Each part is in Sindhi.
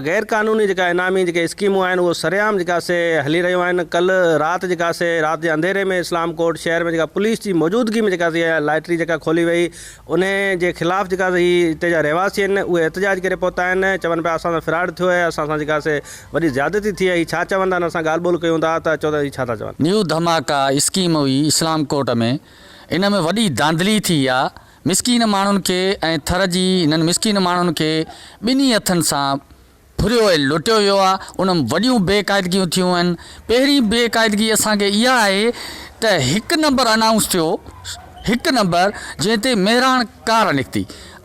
غير قانوني جيڪا انعامي جيڪي اسڪيمون آهن اهو سرعام جيڪا سي هلي رهيون آهن ڪلهه رات جيڪا سي رات جي انڌيري ۾ اسلام ڪوٽ شهر ۾ جيڪا پوليس جي موجودگي ۾ جيڪا سي اها لائٽري جيڪا کولي وئي انهي جي خلاف جيڪا سي هي اتي جا رهواسي آهن اهي احتجاج ڪري پهتا آهن چون پيا اسان سان فراڊ ٿيو آهي اسان سان جيڪا سي وڏي زيادتي ٿي آهي هي ڇا چون ٿا نه اسان ڳالهه ٻولهه ڪيون ٿا ته چون ٿا هي ڇا ٿا چون. نيو ڌماڪا اسڪيم هئي اسلام ڪوٽ ۾ ان ۾ وڏي ڌانڌلي ٿي آ. مسڪين ماڻهن کي ۽ ٿر جي هنن مسڪين ماڻهن کي ٻنهي هٿن سان ڦريو ۽ لٽيو ويو آهي، ان ۾ وڏيون بي قاعدگيون ٿيون آهن، پهرين بي قاعدگي اسان کي اها آهي ته هڪ نمبر انائونس ٿيو، هڪ نمبر جنهن تي مهراڻ ڪار نڪتي،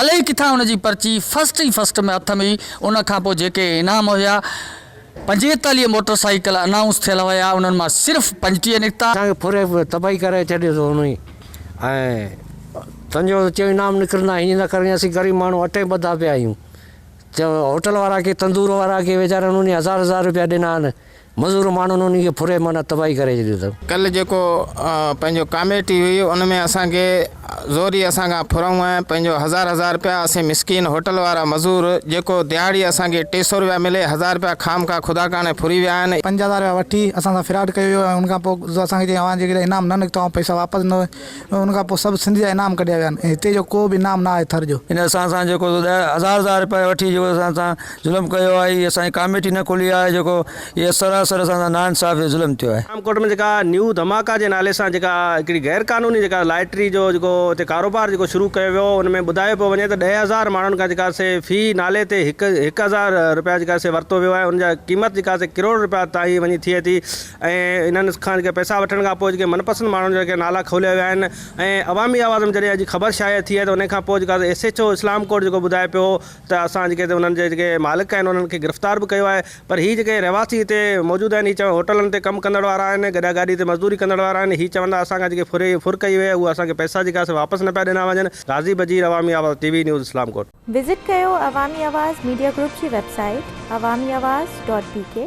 الئي ڪٿان ان جي پرچي فرسٽ ئي فرسٽ ۾ هٿ ۾ هئي، ان کان پوء جيڪي انعام هيا. پنجيتاليهه موٽر سائيڪل انائونس ٿيل هيا انهن مان صرف پنجٽيهه نڪتا. اسان کي ڦري تباهي ڪري ڇڏيو اٿو انهي ۽ تنهنجو چيو انعام نڪرندا هينئن نه ڪرڻي اسين غريب ماڻهو اٽي ٻڌا پيا آهيون چيو هوٽل وارا ڪي تندور وارا ڪي ويچارن انهي هزار هزار روپيا ڏنا آهن مزور ماڻهن انهي کي ڦري معنيٰ تباهي ڪري ڇڏيو اٿن. ڪل جيڪو پنهنجو ڪاميٽي هئي ان ۾ اسان کي زوريء اسان کان ڦرهون ۽ پنهنجو هزار هزار رپيا اسين مسڪين هوٽل وارا مزور جيڪو دهاڙيء اسان کي ٽي سؤ رپيا ملي، هزار رپيا خامخواه خدا ڪاڻي ڦري ويا آهن. پنج هزار رپيا وٺي اسان سان فراڊ ڪيو ويو ۽ ان کان پوء زو اسان کي چيائين اوهان جيڪڏهن انعام نه نڪتو ۽ پئسا واپس نه ۽ ان کان پوء سڀ سنڌ جا انعام ڪڍيا ويا آهن ۽ هتي جو ڪو به انعام نه آهي ٿر جو. هن اسان سان جيڪو زو ڏهه هزار هزار رپيا وٺي جيڪو اسان سان ظلم ڪيو آهي هي اسان جي ڪاميٽي نه کولي آهي جيڪو هي سراسر اسان سان نا انصافي جو ظلم ٿيو آهي. ٺانڪوٽ ۾ جيڪا نيو ڌماڪا جي نالي سان جيڪا هڪڙي غير قانوني جيڪا لائٽري جو جيڪو هتي ڪاروبار جيڪو شروع ڪيو ويو ان ۾ ٻڌايو پيو وڃي ته ڏهه هزار ماڻهن کان جيڪا سي في نالي تي هڪ هڪ هزار روپيا جيڪا سي ورتو ويو آهي ان جا قيمت جيڪا سي ڪروڙ روپيا تائين وڃي ٿئي ٿي ۽ انهن کان جيڪا پئسا وٺڻ کان پوء جيڪي من پسند ماڻهن جا نالا کوليا ويا آهن ۽ عوامي آواز ۾ جڏهن اڄ خبر شايع ٿي آهي ته ان کان پوء جيڪا S H O Islamkot جيڪو ٻڌائي پيو ته اسان جيڪي هتي انهن جي جيڪي مالڪ آهن انهن کي گرفتار به ڪيو آهي پر هي جيڪي رهواسي هتي موجود آهن هي چون هوٽلن تي ڪم ڪندڙ وارا آهن گڏا گاڏي تي مزدوري ڪندڙ وارا آهن هي چون ٿا اسان کان جيڪي ڦري ڦر ڪئي وئي آهي اهي اسان کي پئسا جيڪي آهي سي واپس نه پيا ڏنا وڃن غازي Bajeer Awami Awaz T V news Islamkot. Visit ڪيو عوامي آواز ميڊيا گروپ جي web site Awami Awaz dot بي ڪي.